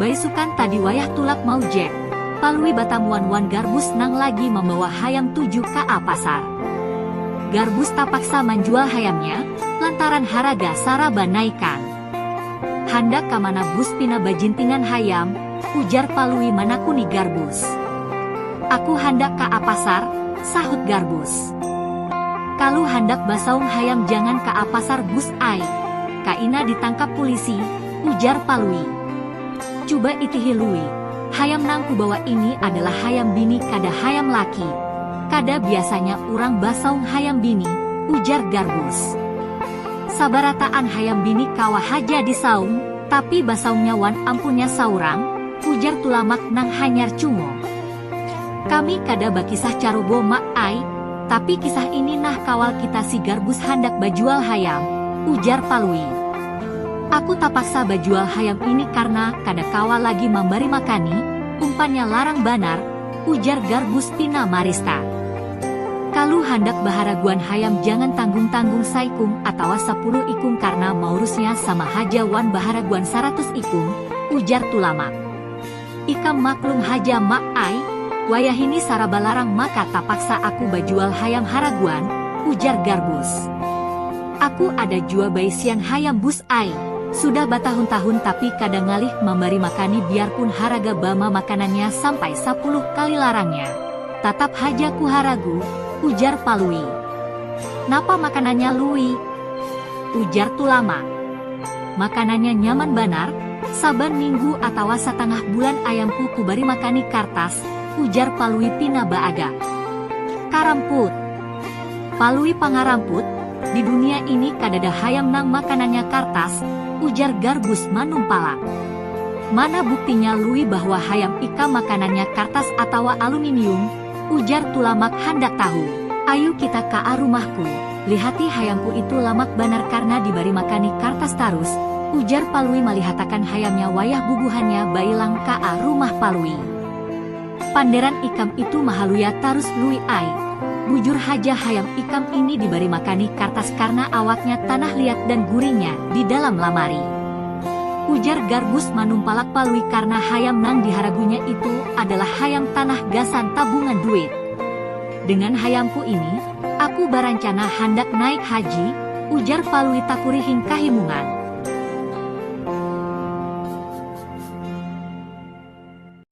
Baisukan tadi wayah tulak mau Jack, Palui batamuan wan Garbus nang lagi mambawa hayam tuju kaa pasar. Garbus tapaksa manjual hayamnya lantaran haraga saraba naikan. Handak ka mana Bus pina bajintingan hayam? ujar Palui manakuni Garbus. Aku handak ka apasar, sahut Garbus. Kalu handak basaung hayam jangan ka apasar Bus ai, kaina ditangkap pulisi, ujar Palui. Cuba itihi Lui, hayam nang kubawa ini adalah hayam bini kada hayam laki, kada biasanya urang basaung hayam bini, ujar Garbus. Sabarataan hayam bini kawa haja disaung, tapi basaungnya wan ampunnya saurang, ujar Tulamak nang hanyar cungul. Kami kada bakisah carubo Mak ai, tapi kisah ini nah kawal kita si Garbus handak bajual hayam, ujar Palui. Aku tapaksa bajual hayam ini karna kada kawa lagi mambari makani, umpannya larang banar, Ujar Garbus pina marista. Kalu handak baharaguan hayam jangan tanggung-tanggung saikung atawa sapuluh ikung karna maurusnya sama haja wan baharaguan saratus ikung, ujar Tulamak. Ikam maklum haja Mak ai, wayahini saraba larang maka tapaksa aku bajual hayam haraguan, ujar Garbus. Aku ada jua baisian hayam bus ai, sudah batahun-tahun tapi kada ngalih mambari makani biarpun haraga bama makanannya sampai sapuluh kali larangnya, tatap haja ku haragu, ujar Palui. Napa makanannya Lui? ujar Tulamak. Makanannya nyaman banar, saban minggu atawa satangah bulan ayamku kubari makani kartas, ujar Palui pina baagak. Karamput. Palui pangaramput, di dunia ini kadada hayam nang makanannya kartas, ujar Garbus manumpalang. Mana buktinya Lui bahwa hayam ikam makanannya kartas atawa aluminium? ujar Tulamak handak tahu. Ayu kita ka a rumahku, lihati hayamku itu lamak banar karna dibari makani kartas tarus, ujar Palui malihatakan hayamnya wayah bubuhannya bailang ka a rumah Palui. Panderan ikam itu mahaluya tarus Lui ai. Bujur haja hayam ikam ini dibari makani kartas karna awaknya tanah liat dan gurinya di dalam lamari. Ujar Garbus manumpalak Palui karna hayam nang diharagunya itu adalah hayam tanah gasan tabungan duit. Dengan hayamku ini, aku barancana handak naik haji, ujar Palui takurihing kahimungan.